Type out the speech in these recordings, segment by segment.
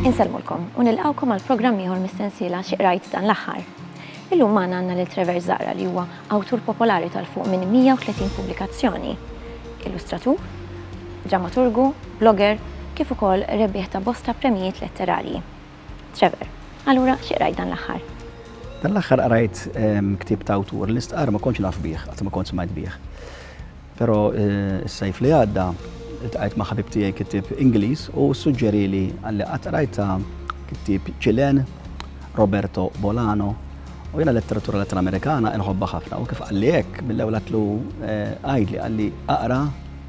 Insellmulkom u nilqgħukom għal programm ieħor mis-sensiela Xi Qrajt dan l-aħħar. Illum magħna għandna lil Trevor Zahra li huwa awtur popolari tal-fuq minn 130 pubblikazzjoni, illustratur, drammaturgu, blogger, kif ukoll rebbieħ ta' bosta premjijiet letterarji. Trevor, Allura xi qrajt dan l-aħħar? Dan l-aħħar qrajt ehm, ktieb ta' awtur li stqar ma kontx naf bih, qatt ma kont smajt bih. Però eh, s-sajf li għadda tqajt ma' ħabib tiegħi kittieb Ingliż u suġġeri li għalli qatt qrajt ta' kittieb Ċilen Roberto Bolano U jena letteratura latinamerikana nħobba ħafna u kif għalli hekk mill-ewwel għatlu eh, għajdli għalli aqra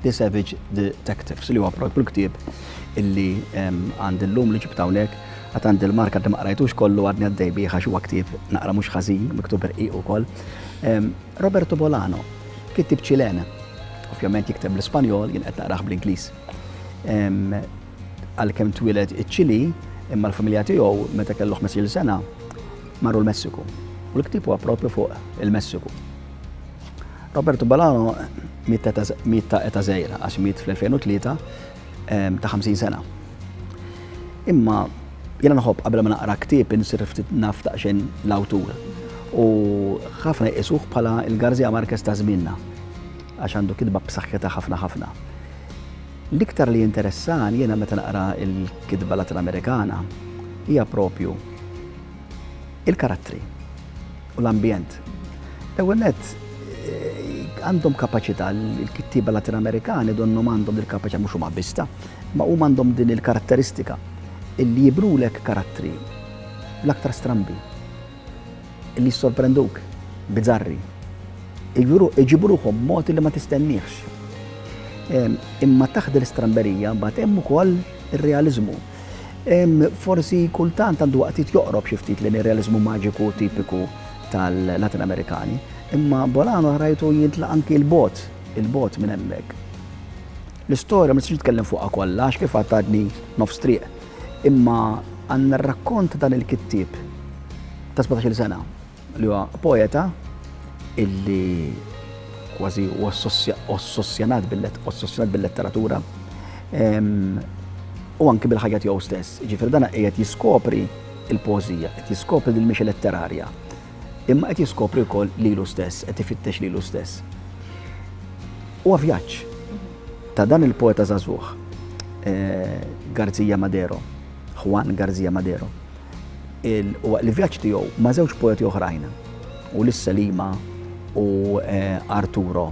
The Savage Detectives li huwa propju l-ktieb illi għandi llum li ġibt hawnhekk, għad għandi l-mark għadni ma qrajtux kollu għadni għaddej bih għax huwa ktieb naqra mhux ħażin, miktub rqiq ukoll. Roberto Bolano, kittieb Ċilen, ovvjament jikteb bl-Ispanjol, jien qed naqrah bl-Ingliż. Għalkemm twieled iċ-Ċili, imma l-familja tiegħu meta kellu 15 sena marru l-Messiku. U l-ktieb huwa propju fuq il-Messiku. Roberto Balano miet ta' eta zejra, għax miet fl-2003, ta' 50 sena. Imma jena nħobb qabel ma naqra ktieb insir ftit naf daqsxejn l-awtur. U ħafna jqisuh bħala il-Garzija Marquez ta' żmienna għax għandu kitba b'saħħitha ħafna ħafna. L-iktar li jinteressan jena meta naqra il-kitba Latin Amerikana hija propju Il-karattri u l-ambjent. L-ewwel nett għandhom kapaċità l-kittieba Latin Amerikani donnhom għandhom il-kapaċità mhux huma bista, ma huma għandhom din il-karatteristika illi jibrulek karattri l-aktar strambi illi jissorprenduk bizzarri. Iġibruhom mod li ma tistenniex. Imma taħt l-istramberija mbagħad hemm ukoll Ir-realiżmu. Forsi kultant għandu waqtiet joqrob xi ftit lejn ir-realiżmu maġiku tipiku tal-Latin Amerikani, imma Bolano rajtu jintla' anki 'l bogħod, 'il bogħod minn hemmhekk. L-istorja ma nistax nitkellem fuqha kollha għax kif għedt għadni nofs triq, imma għandna r-rakkont ta' dan il-kittieb ta' sbatax-il sena, li huwa poeta illi kważi ossossjonat bil-letteratura u anki bil-ħajja tiegħu stess. Ġifier dan qiegħed jiskopri il-pożija, qed jiskopri din mhix letterarja. Imma qed jiskopri wkoll lilu stess, qed ifittex lilu stess. U vjaġġ ta' dan il-poeta żagħżugħ eh, Garzija Madero, Juan Garzija Madero, Waqt li vjaġġ tiegħu ma' żewġ poeti oħrajn, Uliss Selima u Arturo,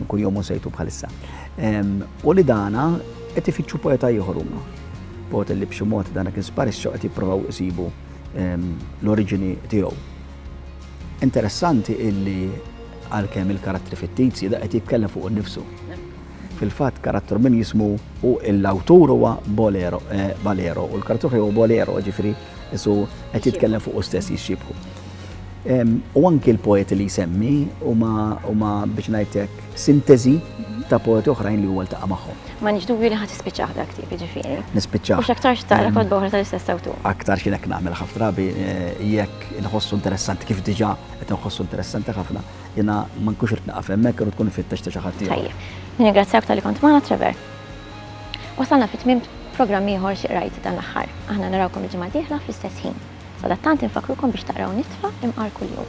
kuljum hu sejtu bħalissa, u li dana qed ifittxu poeta ieħor huma. Poeta li b'xi mod dana kien sparixxa qed jippruvaw isibu l-oriġini tiegħu. Interessanti illi għalkemm il-karattri fittizji da qed jitkellem fuq innifsu. Fil-fatt, karattru minn jismu u l-awtur huwa Bolero, eh, Balero, u l-karattru ħaj huwa Bolero, ġifiri, isu qed jitkellem fuq u stess jixxibħu. U anki l-poeti li jsemmi huma biex ngħidlek sintesi ta' poeti oħrajn li huwa ltaqa' magħhom. Ma nix dubju li ħadd ispiċċaħ dak tip ġifieri. Nispiċċaħ. U x'aktarx taqra kod boħra tal-istess awtur. Aktar xi lek nagħmel ħafna drabi eh, jekk inħossu interessanti kif diġà qed inħossu interessanti ħafna. Jiena ma nkunx irid nieqaf hemmhekk, irrid tkun ifittex ta' xi ħadd ieħor. Tajjeb. Nirringrazzjak talli kont magħna, Trevor. Wasalna fi tmiem programm ieħor Xi Qrajt dan l-aħħar. Aħna narawkom il-ġimgħa d-dieħla fl-istess ħin. Sadattant infakkrukom biex taqraw Nitfa' imqar kuljum.